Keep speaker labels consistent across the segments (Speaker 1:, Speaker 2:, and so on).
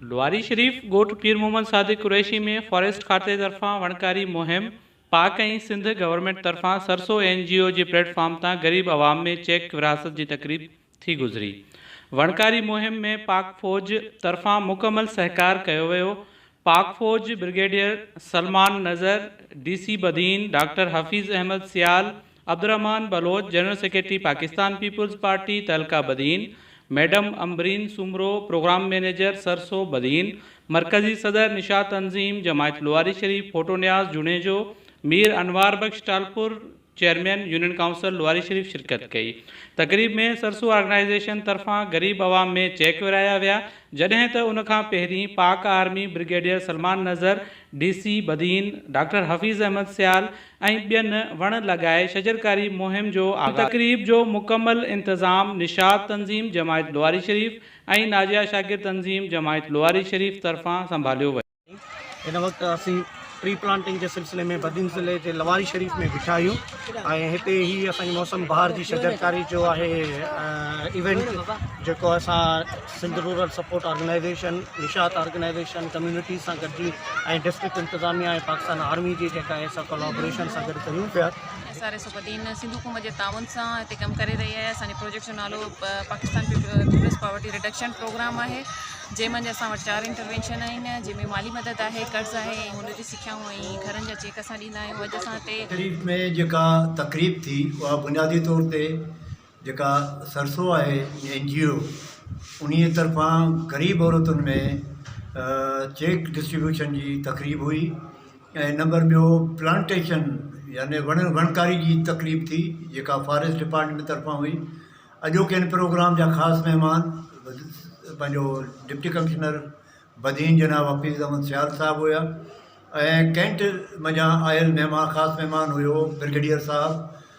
Speaker 1: لواري شريف ڳوٺ پير محمد صادق قريشي ۾ فاريسٽ کاتي طرفان وڻڪاري مهم، پاڪ ۽ سنڌ گورنمينٽ طرفان سرسو اين جي او جي پليٽ فارم تان غريب عوام ۾ چيڪ ورهاست جي تقريب ٿي گذري. وڻڪاري مهم ۾ پاڪ فوج طرفان مڪمل سهڪار ڪيو ويو. پاڪ فوج brigadier Salman Nazar, D C Badin, doctor Hafeez Ahmed Sial, Abdulrahman Baloch, general secretary Pakistan peoples party تعلقه Badin, madam Ambreen Soomro, program manager سرسو بدين، مرڪزي صدر نشاط تنظيم جماعت لواري شريف ڦوٽو Niaz Junejo, Mir Anwar Bakhsh Talpur, chairman union council Lawari Sharif شرڪت ڪئي. تقريب ۾ سرسو آرگنائيزيشن طرفان غريب عوام ۾ چيڪ ورهايا ويا جڏهن ته ان کان پهرين پاڪ army brigadier Salman Nazar, D C Badin, doctor Hafeez Ahmed Sial, ۽ ٻين وڻ لڳائي شجرڪاري مهم جو آغاز. هن تقريب جو مڪمل انتظام نشاط تنظيم جماعت لواري شريف ۽ ناجيه شاڪر تنظيم جماعت لواري شريف طرفان سنڀاليو ويو. هن وقت
Speaker 2: اسين ٽري پلانٽنگ جي سلسلي ۾ بدين ضلعي جي لواري شريف ۾ بيٺا آهيون ۽ هتي هي اسان جي موسم بهار جي شجرڪاري جو آهي ايونٽ جيڪو اسان Sindh rural support organisation, Nishat organisation, communities سان گڏجي ۽ ڊسٽرڪٽ انتظاميا ۽ پاڪستان آرمي جي جيڪا اهي سڀ ڪولابوريشن سان گڏ ڪريون پيا. ايس آر ايس الدين
Speaker 3: سنڌ حڪومت جي تعاون سان هتي ڪم ڪري رهي آهي اسان جي پروجيڪٽ جو نالو Pakistan peoples poverty reduction programme آهي جنهن منجهه اسان وٽ چار انٽروينشن آهن جنهن ۾ مالي مدد آهي قرض آهي ۽ هنر جي سکيائون ۽ گهرن جا چيڪ اسان ڏيندا آهيون اڄ اسان هتي شريف ۾ جيڪا
Speaker 4: تقريب ٿي اها بنيادي طور تي جيڪا سرسو آهي اين جي او انهي طرفان غريب عورتن ۾ چيڪ ڊسٽريبيوشن جي تقريب هئي ۽ نمبر ٻيو پلانٽيشن يعني وڻ وڻڪاري جي تقريب ٿي جيڪا فاريسٽ ڊپارٽمينٽ طرفان هئي اڄوڪي ان پروگرام جا خاص مهمان پنهنجو ڊپٽي ڪمشنر بدين جناب حفيظ احمد سيال صاحب هيا ۽ ڪينٽ منجهان آيل مهمان خاص مهمان هيو برگيڊيئر صاحب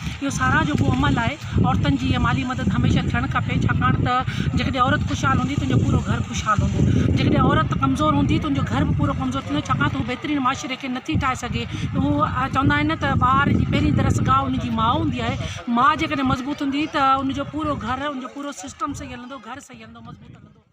Speaker 5: اهو ساراهه جوڳو عمل آهي. عورتن جي اها مالي مدد هميشه ٿيڻ کپي ڇاڪاڻ ته جيڪڏهن عورت خوشحال هوندي ته ان جو پورو گهر خوشحال هوندو. جيڪڏهن عورت ڪمزور هوندي ته ان جو گهر به پورو ڪمزور ٿيندو ڇاڪاڻ ته هو بهترين معاشري کي نٿي ٺاهي سگهي. اهو چوندا آهن نه ته ٻار جي پهرين درس گاهه ان جي ماء هوندي آهي. ماء جيڪڏهن مضبوط هوندي ته ان جو پورو گهر ان جو پورو سسٽم صحيح هلندو، گهر صحيح هلندو، مضبوط هلندو.